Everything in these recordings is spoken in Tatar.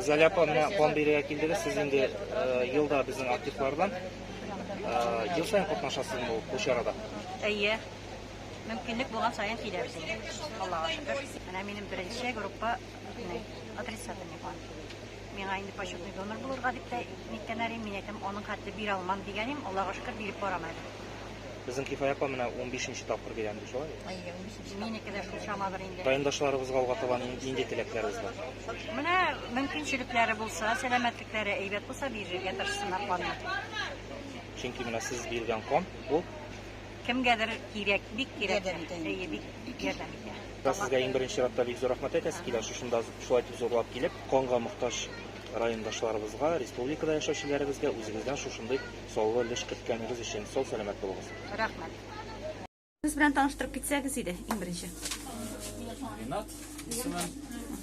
Зәлә апамна план бирергә килдегез. Сез инде елда безнең активлардан. Ел саен катнашасыз бу бу чарада. Әйе. Мөмкинлек булган саен киләбез. Аллага шөкер. Менә минем беренче группа отрицательный план. Миңа инде почетный донор булырга дип тә ниткәннәр иде. Мин әйтәм, аның хәтле бирә алмам дигән идем. Аллага шөкер, биреп барам әле. Безнең Кифая апа менә 15 нче тапкыр бирәм ди, шулай? Әйе, 15 Минеке дә шул чамадыр инде. Райондашларыбызга алга таба нинди теләкләрегез бар? Менә мөмкинчелекләре булса, сәламәтлекләре әйбәт булса, бирергә тырышсыннар канны. Чөнки менә сез биргән кан ул кемгәдер кирәк, бик кирәк. Әйе, бик ярдәм итә. Сезгә иң беренче чиратта бик зур рәхмәт әйтәсе килә, шушында шулай итеп зурлап килеп, канга мохтаҗ райондашларыбызга, республикада яшәүчеләребезгә үзегездән шушындый саллы өлеш керткәнегез өчен сау-сәламәт булыгыз. Рәхмәт. Сез белән таныштырып китсәгез иде, иң беренче. Ринат, исемем.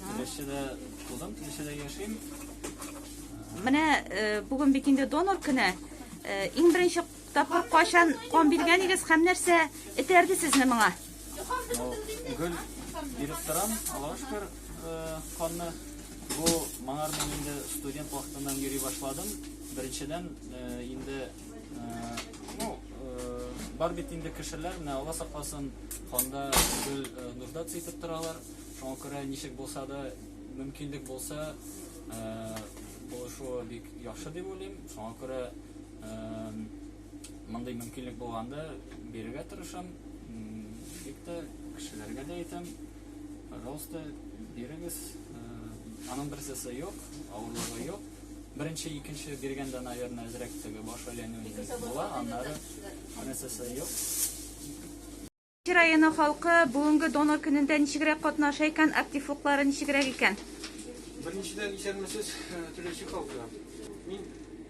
Теләчедә тудым, теләчедә яшим. Менә э, бүген бит инде донор көне. Э, иң беренче тапкыр кайчан кан биргән идегез һәм нәрсә этәрде сезне моңа? Гөл биреп торам, Аллаһу шөкер, канны бу моңар мин инде студент вакытыннан йөри башладым. Беренчедән инде э, Ну, э, бар бит инде кешеләр, менә Алла сакласын, канда гел э, нуждаться итеп торалар. Шуңа күрә ничек булса да, мөмкинлек булса, э, булышуы бик яхшы дип уйлыйм. Шуңа күрә мондый мөмкинлек булганда бирергә тырышам. Бик тә кешеләргә дә әйтәм. Пожалуйста, бирегез. Аның берсесе юк, авырлыгы юк. Беренче, икенче биргәндә, наверное, әзрәк теге баш әйләнүе була, аннары берсесе юк. Кичи районы халкы бүгенге донор көнендә ничегрәк катнаша икән, актив фоклары ничегрәк икән? Беренчедән исәнмесез, түләүче халкы. Мин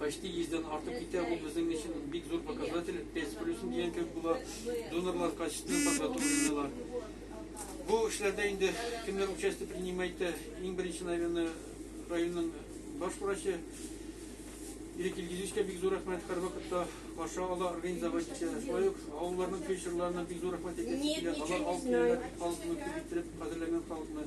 почти йөздән артып китә, бу безнең өчен бик зур показатель, 5 плюсен дигән кебек була, донорлар качты, подготовленныйлар. Бу эшләрдә инде кемнәр участие принимает, иң беренче, наверное, районның баш врачы, Ирек Илгизичкә бик зур рәхмәт, һәр вакытта каршы ала, организовать итә. Шулай ук авылларның фельдшерларына бик зур рәхмәт әйтәсе килә, алар алып киләләр, халыкны кибеттереп, хәзерләнгән халыкны.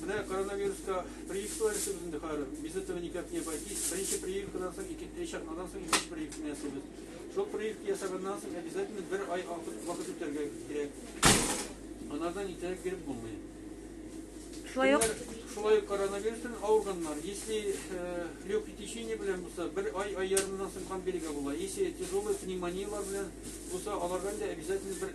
Менә коронавируска прививкалар ясыйбыз инде хәзер. Без этого никак не обойтись. Беренче прививкадан соң, ике три чакнадан соң икенче прививканы ясыйбыз. Шул прививка ясаганнан соң обязательно бер ай вакыт вакыт үтәргә кирәк. Анардан итәрәк биреп булмый. Шулай ук шулай ук коронавирустан авырганнар. Если э, легкое течение белән булса, бер ай ай ярымнан соң кан бирергә була. Если тяжелый пневмониялар белән булса, аларга да обязательно бер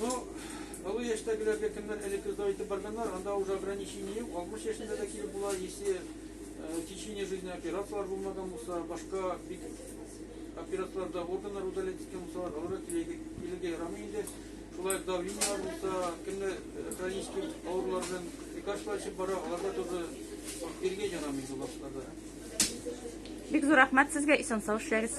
Ну, олы яшьтәгеләргә кемнәр элекке дәү итеп барганнар, анда уже ограничение юк. 60 яшендә дә килеп була, если э, в течение жизни операцияләр булмаган булса, башка бик операцияләрдә органнар удалять иткән булсалар, аларга килергә килергә ярамый инде. Шулай ук давлениеләр булса, кемдә э, хронический авырулар белән лекарстволар эчеп бара, аларга тоже биргә ярамый бу башкаларда. Бик зур рәхмәт сезгә, исән сау эшләгез.